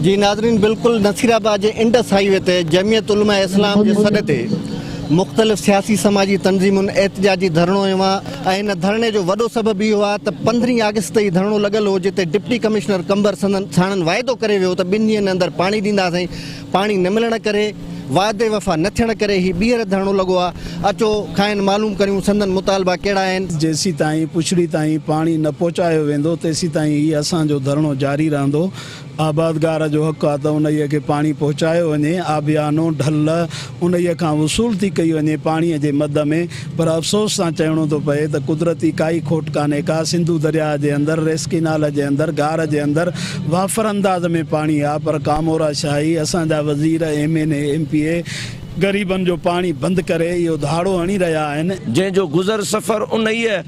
جي ناظرين بلڪل نصير آباد جي انڊس هائي وي تي جمعيت علماء اسلام جي سڏ تي مختلف سياسي سماجي تنظيمن احتجاجي ڌرڻو هنيو آهي ۽ ان ڌرڻي جو وڏو سبب اهو آهي ته پندرهين آگسٽ تي هي ڌرڻو لڳل هو جتي ڊپٽي ڪمشنر قمبر ساڻن واعدو ڪري ويو ته ٻن ڏينهن اندر پاڻي ڏينداسين پاڻي نه ملڻ ڪري وعدي وفا نه ٿيڻ ڪري هي ٻيهر ڌرڻو لڳو آهي اچو کانئن معلوم ڪريون سندن مطالبا ڪهڙا آهن. جيسيتائين پڇڙي تائين پاڻي نه پهچايو ويندو تيسيتائين هي اسان جو ڌرڻو جاري رهندو. آبادگار جو حق آ ته انهيء کي پاڻي پهچايو وڃي، آبيانو، ڍل، انهيء کان وصول ٿي ڪئي وڃي پاڻيء جي مد ۾، پر افسوس سان چئڻو ٿو پئي ته قدرتي ڪائي کوٽ ڪانهي ڪا، سنڌو درياهه جي اندر، ريس ڪينال جي اندر، گار جي اندر وافر انداز ۾ پاڻي آ، پر ڪامورا شاهي، اسان جا وزير، M N A, M P A, غريبن جو پاڻي بند ڪري اهو ڌاڙو هڻي رهيا آهن. جنهن جو گذر سفر انهيء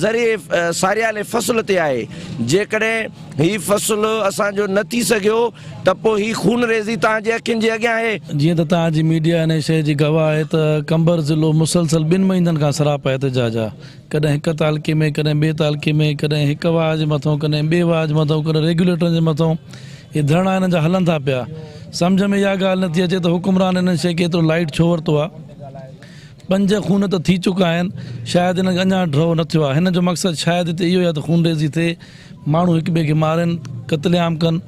ذريعي ساريالي فصل تي آهي، جيڪڏهن. هي فصل اسان جو نه ٿي سگهيو ته پوء هي خونريزي توهان جي اکين جي اڳيان آهي. جيئن ته توهان جي ميڊيا انهيء شيء جي گواهه آهي ته قمبر ضلعو مسلسل ٻن مهينن کان سراپا احتجاج آ. ڪڏهن هڪ تعلقي ۾ ڪڏهن ٻئي تعلقي ۾ ڪڏهن هڪ واهه جي مٿون ڪڏهن ٻئي واهه جي مٿون ڪڏهن ريگيوليٽرن جي مٿون هي ڌرڻا هنن جا هلن ٿا پيا. سمجهه ۾ اها ڳالهه نه ٿي اچي ته حڪمران هنن شيء کي ايترو لائيٽ ڇو ورتو آ. پنج خون ته ٿي چڪا آهن شايد هنن کي اڃان ڊرو نه ٿيو آ. هنن جو مقصد شايد هتي اهو ئي آ ته خونريزي ٿئي. ماڻهو هڪ ٻئي کي مارين قتل عام ڪن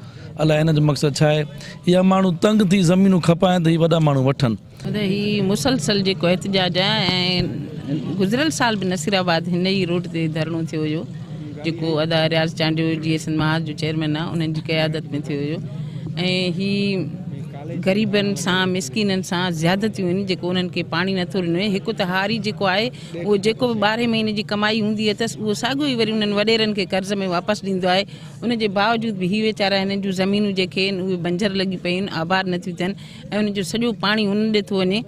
الاء هنن جو مقصد ڇا آهي يا ماڻهو تنگ ٿي زمينون کپائين ته هي وڏا ماڻهو وٺن. ته هي مسلسل جيڪو احتجاج آهي ۽ گذريل سال به نصير آباد هن ئي روڊ تي ڌرڻو ٿيو هيو جيڪو ادا رياض چانڊيو جي سنڌ محاذ جو چيئرمين آهي انهن جي قيادت ۾ ٿيو هيو ۽ هي غريبن سان مسڪينن سان زيادتيون آهن جيڪو انهن کي پاڻي نٿو ڏنو وڃي هڪ ته هاري جيڪو آهي اهو جيڪو به ٻارهين مهيني جي ڪمائي هوندي اٿس اهو ساڳيو ئي وري انهن وڏيرن کي قرض ۾ واپس ڏيندو آهي ان جي باوجود به هي ويچارا هنن جون زمينون جيڪي آهن اهي بنجر لڳي پيون آهن آباد نٿيون ٿين ۽ انهن جو سڄو پاڻي هنن ڏي ٿو وڃي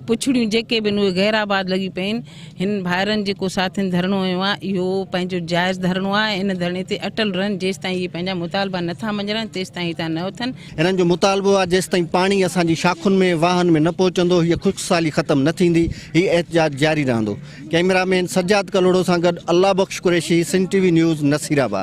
پڇڙيون جيڪي به آهن اهي غير آباد لڳي پيون آهن هنن ڀائرن جيڪو ساٿين ڌرڻو هنيو آهي اهو پنهنجو جائز ڌرڻو آهي ۽ ان ڌرڻي تي اٽل رهن جيستائين اهي پنهنجا مطالبا نٿا مڃرائن تيستائين هتان نه اٿن هنن جو مطالبو آهي جيستائين پاڻي اسان جي شاخن ۾ واهن ۾ نه پهچندو هيء خشڪ سالي ختم نه ٿيندي هي احتجاج جاري رهندو ڪئميرا مين سجاد ڪلهوڙو سان گڏ Allah Bakhsh Qureshi Sindh T V news Nasirabad.